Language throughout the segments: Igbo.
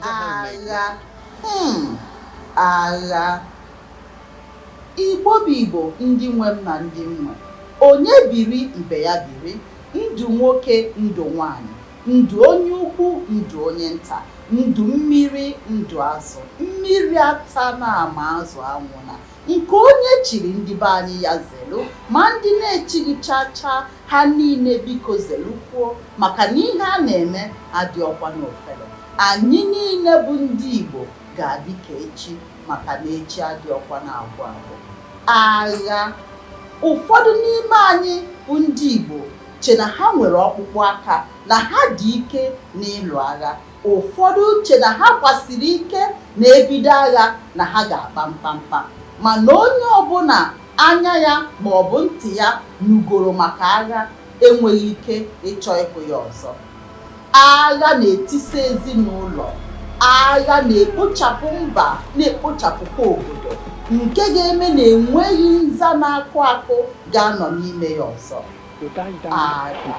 agha hmm, agha igbo bụ igbo ndị nwe m na ndị nwe onye biri ibe ya biri ndụ nwoke ndụ nwanyị ndụ onye ukwu ndụ onye nta ndụ mmiri ndụ azụ mmiri atana ma azụ anwụna nke onye chiri ndị be anyị ya zelu ma ndị na-echighị chaa chaa ha niile biko zelukwuo maka na ihe a na-eme adịrọkwa n'ofere anyị niile bụ ndị Igbo ga-adị ka echi maka na echi adịrọkwa na-agwụ agwụ agha ụfọdụ n'ime anyị bụ ndị Igbo che na ha nwere ọkpụkpụ aka na ha dị ike n'ịlụ agha Ụfọdụ che na ha kwasiri ike na e bido agha na ha ga-akpa mkpamkpa, mana onye ọbụla anya ya ma ọ bụ ntị ya nụgoro maka agha enweghị ike ịchọ ịhụ ya ọzọ. Agha na-etisa ezinụlọ, agha na-ekpochapụ mba, na-ekpochapụkwa obodo nke ga-eme na enweghị nza na-akụ akụ ga-anọ n'ime ya ọzọ. Agha.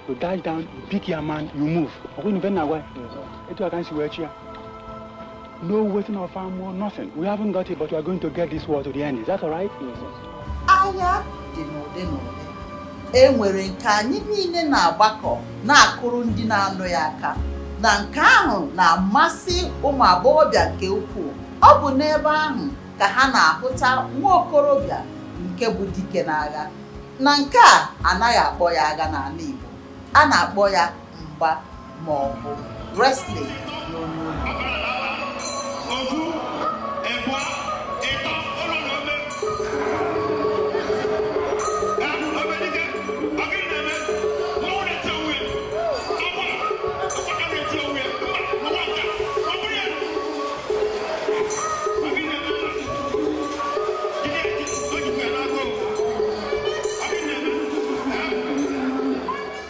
you dash down you pick your man you move ọkwa ị nụ ife na-agwa etu aka nsi wee chi ya no waiting of armour nothing we haven't got it but we are going to get this war to the end is that all right agha dị n'ụdị n'ụdị e nwere nke anyị niile na-agbakọ na-akụrụ ndị na-alụ ya aka na nke ahụ na-amasị ụmụ agbọghọbịa nke ukwuu ọ bụ n'ebe ahụ ka ha na-ahụta nwa okorobịa nke bụ dike n'agha na nke a anaghị akpọ ya agha n'ala Igbo a na-akpọ ya mgba ma ọ bụ wrestling n'olu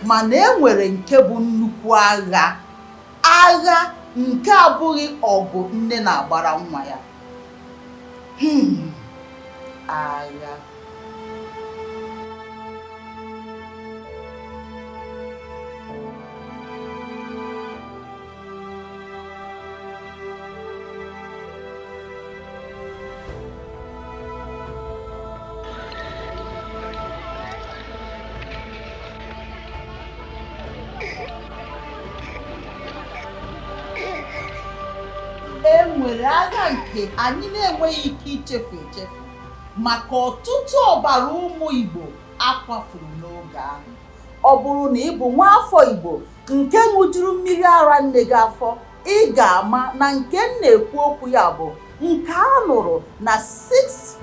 mana e nwere nke bụ nnukwu agha agha nke abụghị ọgụ nne na-agbara nwa ya Hmm. agha nwere agha nke anyị na-enweghị ike ichefu echefu maka ọtụtụ ọbara ụmụ Igbo a kwafuru n'oge ahụ ọ bụrụ na ị bụ nwaafọ Igbo nke ṅụjuru mmiri ara nne gị afọ ị ga-ama na nke m na-ekwu okwu ya bụ nke a lụrụ na 6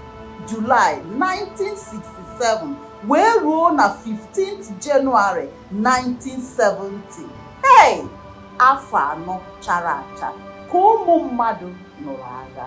July 1967 wee ruo na 15th January 1970 hey afọ anọ chara acha ka ụmụ mmadụ nụrụ agha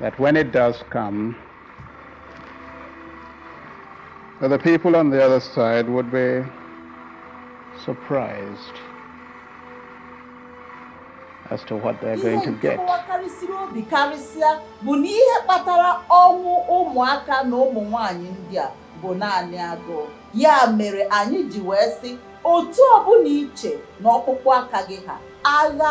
that when it does come, that the people on the other side would be surprised as to what they're going to get. wakarịsịrị obi karịsịa bụ na ihe kpatara ọnwụ ụmụaka na ụmụ nwanyị ndị a bụ naanị agụụ ya mere anyị ji wee sị otu ọbụla i che na ọkpụkpụ aka gị ha agha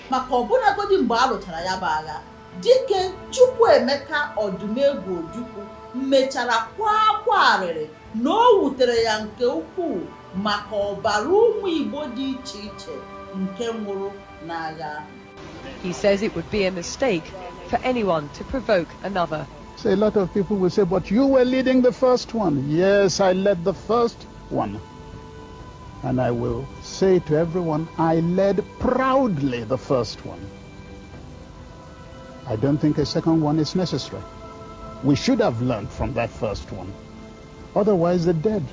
maka ọbụlagodi mgbe a lụchara ya bụ agha dike Chukwuemeka Ọdụmegwu Ojukwu mechara kwaa akwa arịrị na o wutere ya nke ukwuu maka ọbara ụmụ Igbo dị iche iche nke nwụrụ n'agha ahụ He says it would be a mistake for anyone to provoke another. So a lot of people will say, but you were leading the first one. Yes, I led the first One. And I will say to everyone, I led proudly the first one. I don't think a second one is necessary. We should have learned from that first one. Otherwise, the dead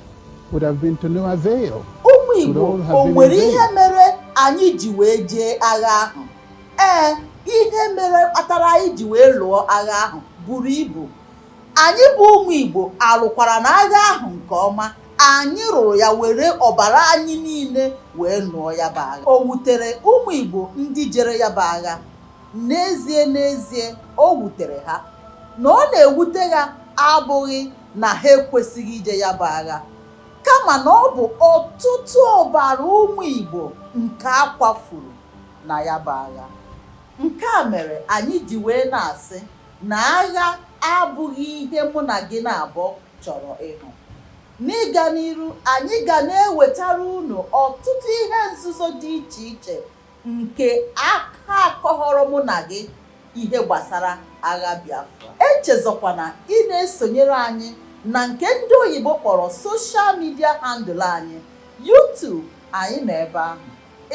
would have been to no avail. Ụmụ Igbo, o nwere ihe mere anyị ji wee jee agha ahụ? Ee, ihe mere kpatara anyị ji wee lụọ agha ahụ buru ibu. Anyị bụ ụmụ Igbo alụkwara na agha ahụ nke ọma. Anyị lụrụ ya were ọbara anyị niile wee nụọ ya bụ agha. O wutere ụmụ Igbo ndị jere ya bụ agha. N'ezie n'ezie, o wutere ha. Na ọ na-ewute ha abụghị na ha ekwesịghị ije ya bụ agha kama na ọ bụ ọtụtụ ọbara ụmụ Igbo nke a kwafuru na ya bụ agha. Nke a mere anyị ji wee na-asị na agha abụghị ihe mụ na gị naabọ chọrọ ịhụ. N'ịga n'iru, anyị ga na-ewetara unu ọtụtụ ihe nzuzo dị iche iche nke a ka akọghọrọ mụ na gị ihe gbasara agha Biafra. Echezọkwana ịna-esonyere anyị na nke ndị oyibo kpọrọ social media handle anyị, YouTube, anyị nọ ebe ahụ.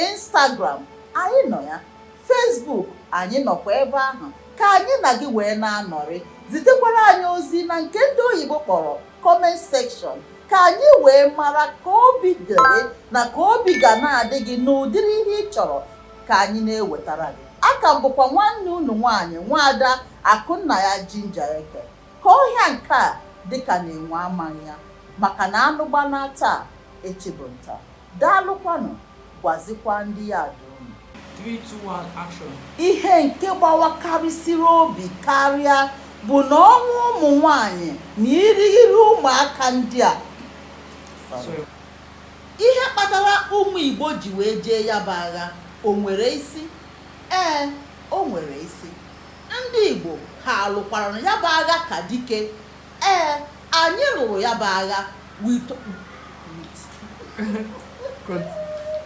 Instagram anyị nọ ya Facebook anyị nọkwa ebe ahụ ka anyị na gị wee na-anọrị zitekwara anyị ozi na nke ndị oyibo kpọrọ comment section ka anyị wee mara ka obi dị gị na ka obi ga na-adị gị n'ụdịrị ihe ị chọrọ ka anyị na-ewetara gị a ka m bụkwa nwanne unu nwaanyị nwaada Akụnnaya jinja eke ka ọhịa nke a dịka na enwe amaghị ya maka na anụ gbanaa taa echi bụ nta Daalụkwanụ, gwazikwa ndị ya ada unu. 3, 2, 1, action! Ihe nke gbawakarịsịrị obi karịa bụ na ọnwụ ụmụ nwaanyị na irighiri ụmụaka ndị a Sorry. Ihe kpatara ụmụ Igbo ji wee jee ya bụ agha o nwere isi? Ee, o nwere isi. Ndị Igbo ha alụkwara ya bụ agha ka dike Ee, anyị lụrụ ya bụ agha with